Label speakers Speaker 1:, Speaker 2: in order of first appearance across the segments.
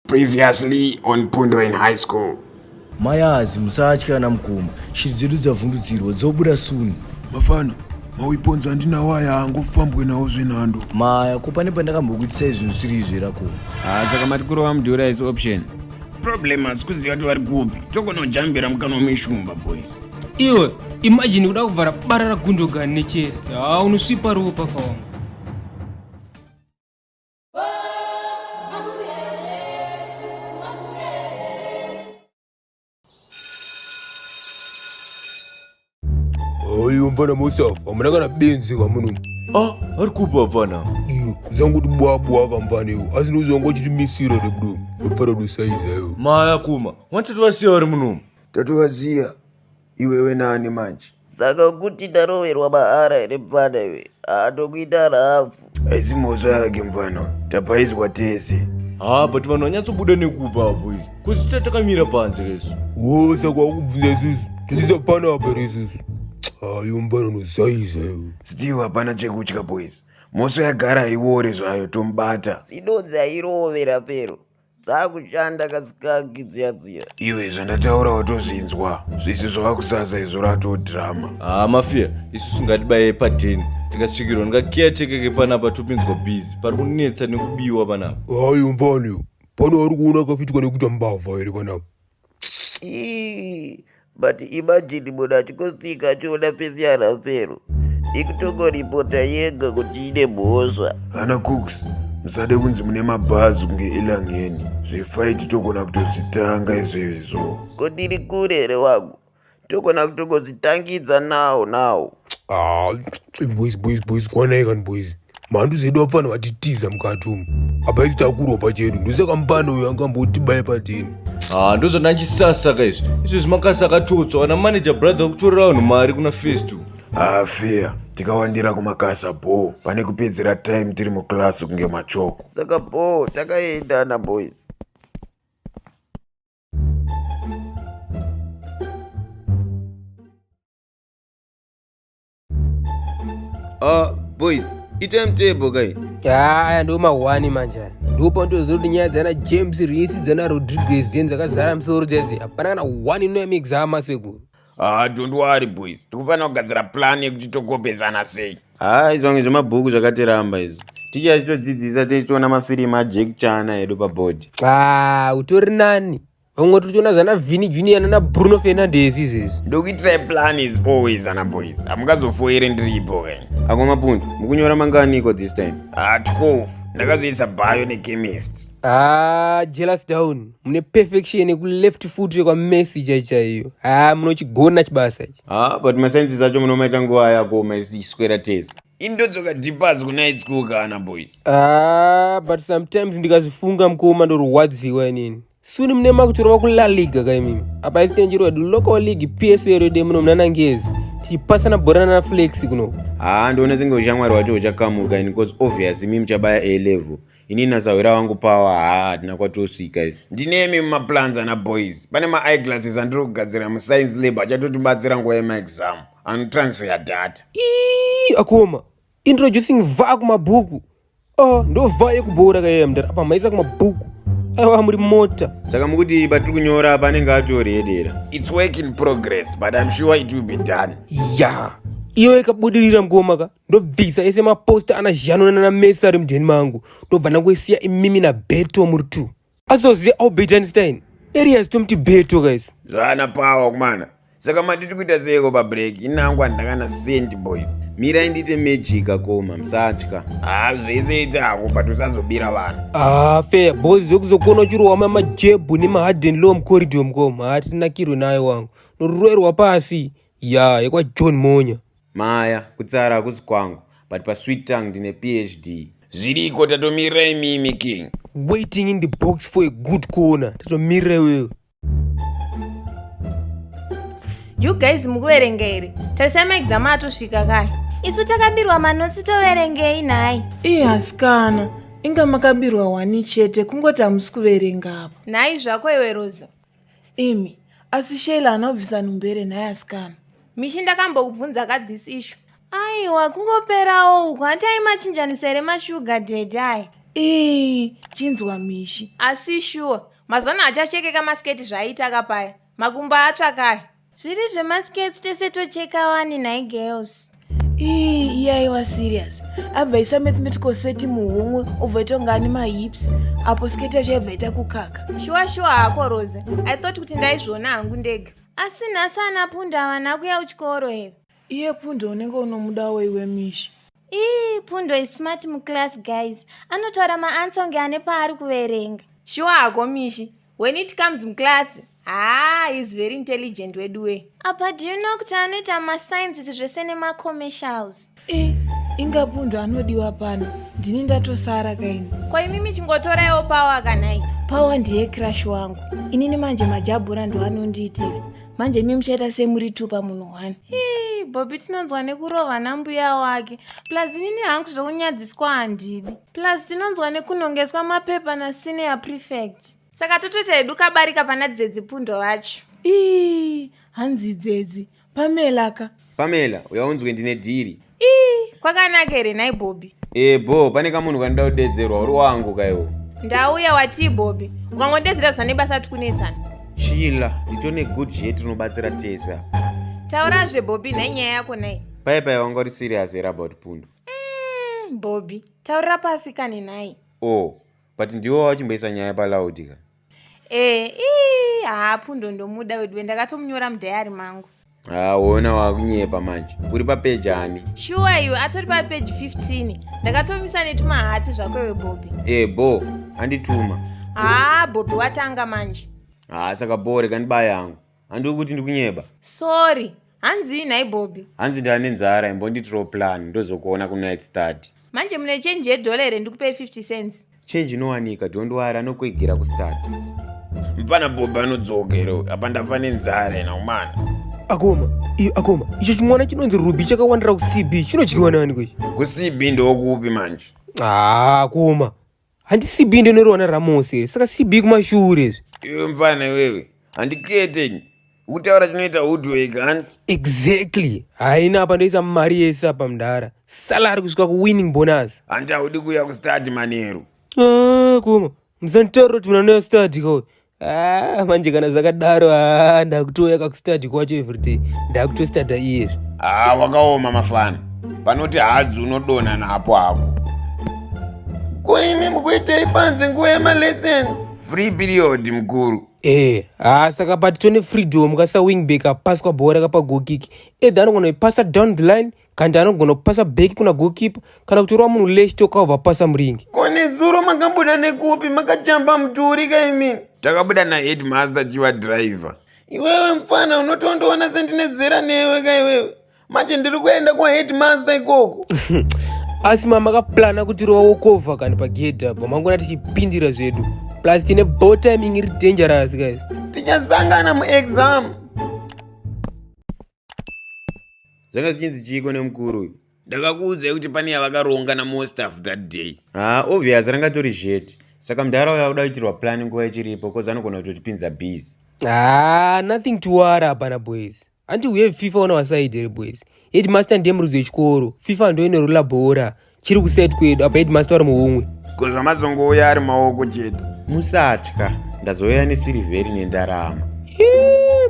Speaker 1: Previously on Pundo in high school. Mayazi
Speaker 2: musatya ana mukoma. Shiri dzedu dzavhundutsirwa dzobuda soon. Mafana,
Speaker 3: mauiponza andinawo aya haangofambwe nawo zvenhando. Maya, ko pane
Speaker 2: pandakambokuitisai zvinhu zvisiri izvi here ko? Ah, saka mati kurova
Speaker 4: mudura is option. Problem asi kuziva kuti vari kupi. Togonojambira mukanwa meshumba boys. Iwe,
Speaker 5: imagine kuda kuvhara bara raGundogan nechest. Ah, unosvipa ropa pawangu.
Speaker 6: Oyo mfana Mustafa, hamuna kana benzi kamuno. Ah, ari kupi
Speaker 2: hapana? Iyo, zangu kuti
Speaker 6: bwa bwa kamfana iyo, asi ndozongo uchiti misiro re bro. Mfana dosaiza iyo. Maya kuma,
Speaker 2: mwatate vasiya vari munomu. Tatovaziya.
Speaker 3: iwewe nani manje saka kuti
Speaker 7: ndaroverwa mahara here mfana iwe haatokuita rafu haisi mhosva yake
Speaker 3: mfana tapaizwa tese haa but vanhu
Speaker 2: vanyatsobuda nekuba apo izvi kusita takamira panze resu wo saka wakubvunza
Speaker 6: isusu tisisa pano apa resusu hayo mfana unozaiza iwe still hapana
Speaker 3: chekutya boys mhosva yagara haiwore zvayo tomubata zvinonzi
Speaker 7: airovera fero dzakushanda kasikaki dziya dziya iwe zvandataura
Speaker 3: watozvinzwa zvisi zvava kusasa izvo rato drama haa mafiya isusu
Speaker 2: ngatibaye padheni tikasvikirwa ndikakiyatekeke panapa topinzwa bhizi pari kunetsa nekubiwa panapa hayi mfani
Speaker 6: pana ari kuona akafitika nekuita mbavha here panapa
Speaker 7: but imagine munhu achikosika achiona fesi yanhafero ikutongoripota yega kuti ine mhosva hana cooks
Speaker 3: musade kunzi mune mabhazi kunge elangeni zvefaiti togona kutozvitanga izvezvo ko ndiri kure
Speaker 7: here wangu togona kutogodzitangidza now now ah, boys boys
Speaker 6: boys kwanai kani boys mhandu zedu apfana vatitiza mukati umu apa isi takuropa chedu ndosaka mupana uyo angambotibaye padini ah, ndozvana
Speaker 2: chisasaka izvi izvi zvimakasa akatotswa kana manager brother wakutorera vanhu mari kuna first afea ah,
Speaker 3: tikawandira kumakasa bho pane kupedzera time tiri muclass kunge machoko saka bho
Speaker 7: takaendana boys
Speaker 4: Uh, boys, ita mtebo kai. Aya ndo
Speaker 5: mahwani manje. Ndopa ndoziva kuti nyaya dzana James Reese dzana Rodriguez dzeni dzakazara misoro dzese. Hapana kana one inoyamikisa hama sekuru. Ah, don't worry
Speaker 4: boys. Tikufanira kugadzira plan yekuti tokopesana sei. Ah, izvonge zvemabhuku
Speaker 1: zvakatiramba izvo. Ticha achitodzidzisa tichiona mafirimu aJack Chana edu paboard. Ah, utori
Speaker 5: nani? Vamwe tochiona zvana Vini Junior nana Bruno Fernandes izvezvi. Ndokuitirai plan is
Speaker 4: always ana boys. Hamungazofoire ndiripo ke. Ako mapundu,
Speaker 1: mukunyora manganiko this time? Ah, 12.
Speaker 4: Ndakazoisa bio nechemist. Ah,
Speaker 5: jealous down. mune perfection yekuleft foot yekwamesi chaichaiyo haa munochigona chibasa ichi ha but masainzi zacho
Speaker 1: munomaita nguva yako maswera tese indodzoka dipas
Speaker 4: kunight school kana boys haa but
Speaker 5: sometimes ndikazifunga mukoma ndorwadziwa inini suni mune makutorova kulaliga kaimimi apa isitenjiro wedu local league psl yode muno munanangezi tichipasana bhorana naflex kuno haa ndiona senge
Speaker 1: ushamwari wacho uchakamuka ini bcause obvious imi muchabaya a level ini nasahwira wangu pawa haa hatina kwatosvika izvi ndinemi mumaplans
Speaker 4: ana boys pane maeyeglasses andiri kugadzira muscience lab achatotibatsira nguva yemaexam anotransfeya data ii akoma
Speaker 5: introducing vaa kumabhuku oh, ndo vaa yekuboora kayaya mdara apa maisa kumabhuku aiwa muri mota saka mukuti patiri
Speaker 1: kunyora apa anenge atori edera its work in
Speaker 4: progress but im sure it will be done ya yeah. iyo
Speaker 5: ikabudirira mgoma ka ndobvisa ese maposta ana zhano nanana mesa ari mudheni mangu ndobva ndangoisiya imimi nabeto muri two azoziva albert einstein arias tomuti beto guys zvana power
Speaker 4: kumana saka matiti kuita seiko pabreak inangu handakana sent boys mirai ndiite
Speaker 1: magic akoma musatya haa zvese ite
Speaker 4: hako but usazobira vanhu haa fair boys
Speaker 5: zvekuzokona uchirohwa mamajebhu nemaharden low mucorridor mukoma haa tinakirwe nayo wangu noruroerwa pasi ya yekwajohn monya Maya,
Speaker 1: kutsara hakusi kwangu but pasweet tongue ndine PhD. Zviriko
Speaker 4: tatomirira imimi king. Waiting in the
Speaker 5: box for a good corner. Tatomirira iwewe.
Speaker 8: You guys mukuverenga here? Tarisai maexam atosvika kai. Isu takabirwa manotsi toverengei nhai. Ii hasikana.
Speaker 9: Inga makabirwa wani chete kungoti hamusi kuverenga apa. Nhai zvako iwe
Speaker 8: Rosa. Imi,
Speaker 9: asi Sheila haana kubvisa nhumbu here nhai asikana? Mishi ndakambokubvunza
Speaker 8: ka this issue. Aiwa, kungoperawo uku, hanti aimachinjanisa here mashuga daddy aya? Ii,
Speaker 9: chinzwa Mishi. Asi sure,
Speaker 8: mazana achachekeka masketi zvaaita ka paya. Makumbo atsva kaya. Zviri zvemaskets tese tocheka wani nhai girls. Ii iya
Speaker 9: iwa serious. Abva isa mathematical set muhomwe obva ita kunga ane mahips apo sketi yacho yaibva ita kukaka. Shuwa shuwa hako
Speaker 8: Rose. I thought kuti ndaizviona hangu ndega. Asi nhasi ana Pundo havana kuya kuchikoro here? Iye Pundo
Speaker 9: unenge unomudawo iwe Mishi. Ii Pundo
Speaker 8: is smart muclass guys. Anotaura maansa kunge ane paari kuverenga. Shuwa hako Mishi. when it comes muclass haa ah, is very intelligent weduwe apa do you know kuti anoita masciences zvese nemacommercials e eh, inga
Speaker 9: pundu anodiwa pano ndini ndatosara kaini kwaimimi chingotoraiwo
Speaker 8: pawa kanai pawa ndiye crash
Speaker 9: wangu inini manje majabhura ndo anondiitira manje imi muchaita semuri two pamunhu one bobi
Speaker 8: tinonzwa nekurova nambuya wake plus inini hangu zvekunyadziswa handidi plus tinonzwa nekunhongeswa mapepa nasenior prefect saka totoita hedu kabarika pana dzedzi pundo vacho ii
Speaker 9: hanzi dzedzi pamela ka pamela uyaunzwe
Speaker 1: ndine dhiri ii kwakanaka
Speaker 8: here nhai bobi ee bho pane kamunhu
Speaker 1: kanoda kudedzerwa uri wangu kaiwo ndauya watii
Speaker 8: bobi ukangondedzera zvisane basa tikunetsana chila
Speaker 1: nditone good jet rinobatsira tese apa taurazve
Speaker 8: bobi nhai nyaya yako nai paipai wanga uri
Speaker 1: serious here about pundo mm, bobby
Speaker 8: taurira pasi kani nhai o oh, but
Speaker 1: ndiwo wachimboisa nyaya palaudi ka ee eh, ii haa
Speaker 8: pfundo ndomuda weduwe ndakatomunyora mudhayari mangu haona
Speaker 1: wakunyepa manje uri papeji ani shuwa iwe atori
Speaker 8: papeji 15 ndakatomisa netumahati zvako iwe bobby ee eh, bo
Speaker 1: andituma haa bobby
Speaker 8: watanga manje haa saka bo
Speaker 1: reka ndibaya yangu handiwe kuti ndikunyeba sorry
Speaker 8: hanzii nhai bobby hanzi ndava nenzara
Speaker 1: imbonditirawo plan ndozokuona kunight study manje mune chenji
Speaker 8: yedhola here ndikupei 50 cents chenji inowanika
Speaker 1: dondwari anokuigera kustad mfana
Speaker 4: bobby anodzoka here apa ndafa nenzara ena umana akoma iyo
Speaker 5: akoma icho chimwana chinonzi ruby chakawandira kucb chinodyiwa nani kwechi kucb ndokupi
Speaker 4: manje haa akoma
Speaker 5: handi cb ndinoriwana ramos here saka cb kumashure izvi iwe mfana
Speaker 4: iwewe handiketenyi kutaura chinoita hudwek hant exactly
Speaker 5: haina apa ndoisa mari yese apa mdara salary kusvika kuwinning bonus handi haudi kuuya
Speaker 4: kustadi manheru Ah, kuma
Speaker 5: musanditaurira kuti mwana westadi kawo Ah, manje kana zvakadaro ah, ndakutouya kakustadi kwacho everyday ndakutostada iyeri haa wakaoma
Speaker 4: mafana panoti hadzi unodonha napo apo ko imi mukuitei panze nguva yemalessons free period mukuru ee haa saka
Speaker 5: pati tone freedom kasawingback apaswa bhora kapagokiki edha anogona ipasa down the line kandi anogona kupasa beki kuna gokipa kana kutorova munhu leshi toka ubva pasa muringi ko nezuro makabuda
Speaker 4: nekupi makajamba mudhuri ka imini takabuda naheadmaster chiva driver iwewe mfana unotondoona sendine zera newe ka iwewe manje ndiri kuenda kwaheadmaster ikoko asi
Speaker 5: mama akaplana kuti rova wokovha kani pagedhi apa mangona tichipindira zvedu plus tine bo timing iri dangerous guys tichasangana
Speaker 4: muexam
Speaker 1: zvanga zvichinzi chiiko nemukuru uyu ndakakuudzai kuti
Speaker 4: pane yavakaronga namostaff that day haa obvious ranga
Speaker 1: tori zvete saka mudhara uyo akuda kuitirwa plani nguva ichiripo bcause anogona kutotipinza busy haa nothing
Speaker 5: to wara hapana boys hanti we have fifa on our side here boys headmaster ndiye murudzi wechikoro fifa ndoinorula bhora chiri kuset kwedu apa headmaster vari muhumwe ko zvamazongouya
Speaker 4: ari maoko chete musatya
Speaker 1: ndazouya nesirivheri nendarama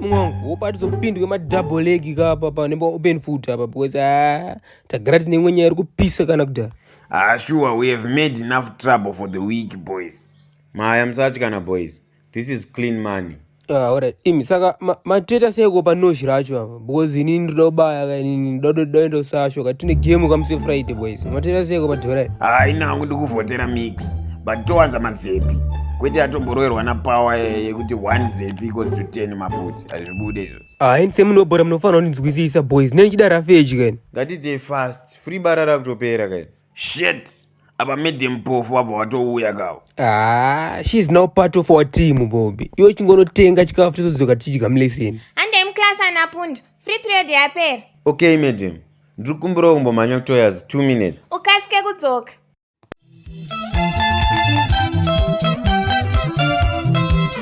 Speaker 1: mumwe
Speaker 5: wangu wopatizo kupindwe madouble leg kapa pa nemba open foot apa because ah, tagara tine imwe nyaya iri kupisa kana kudhara ah sure we
Speaker 4: have made enough trouble for the week boys maya musatya
Speaker 1: na boys this is clean money ah, alright imi
Speaker 5: saka mateta seiko panoshi racho apa because ini ndinoda kubaya ka ini ndinoda kuenda kusasho ka tine game kamuse friday boys mateta seiko padhora hayi nangu ndikuvhotera
Speaker 4: mix but towanza mazepi kwete atomboroerwa napower yekuti one zepi equals to ten maputi hazvibude izvo hayi ndise munhu webhora
Speaker 5: munofanira kundinzwisisa boys nenichida rafeji kaini ngatidzei fast
Speaker 1: free bara rakutopera kaini shit
Speaker 4: apa midi mpofu wabva watouya kawo ah she is
Speaker 5: now part of our team bobi iwe chingonotenga chikafu tozodzoka tichidya muleseni handei muclass ana
Speaker 8: pundu free period yapera okay
Speaker 1: madam
Speaker 8: ndiri
Speaker 1: kumbirawo kumbomhanya
Speaker 8: kutoyaz
Speaker 1: two minutes ukasike kudzoka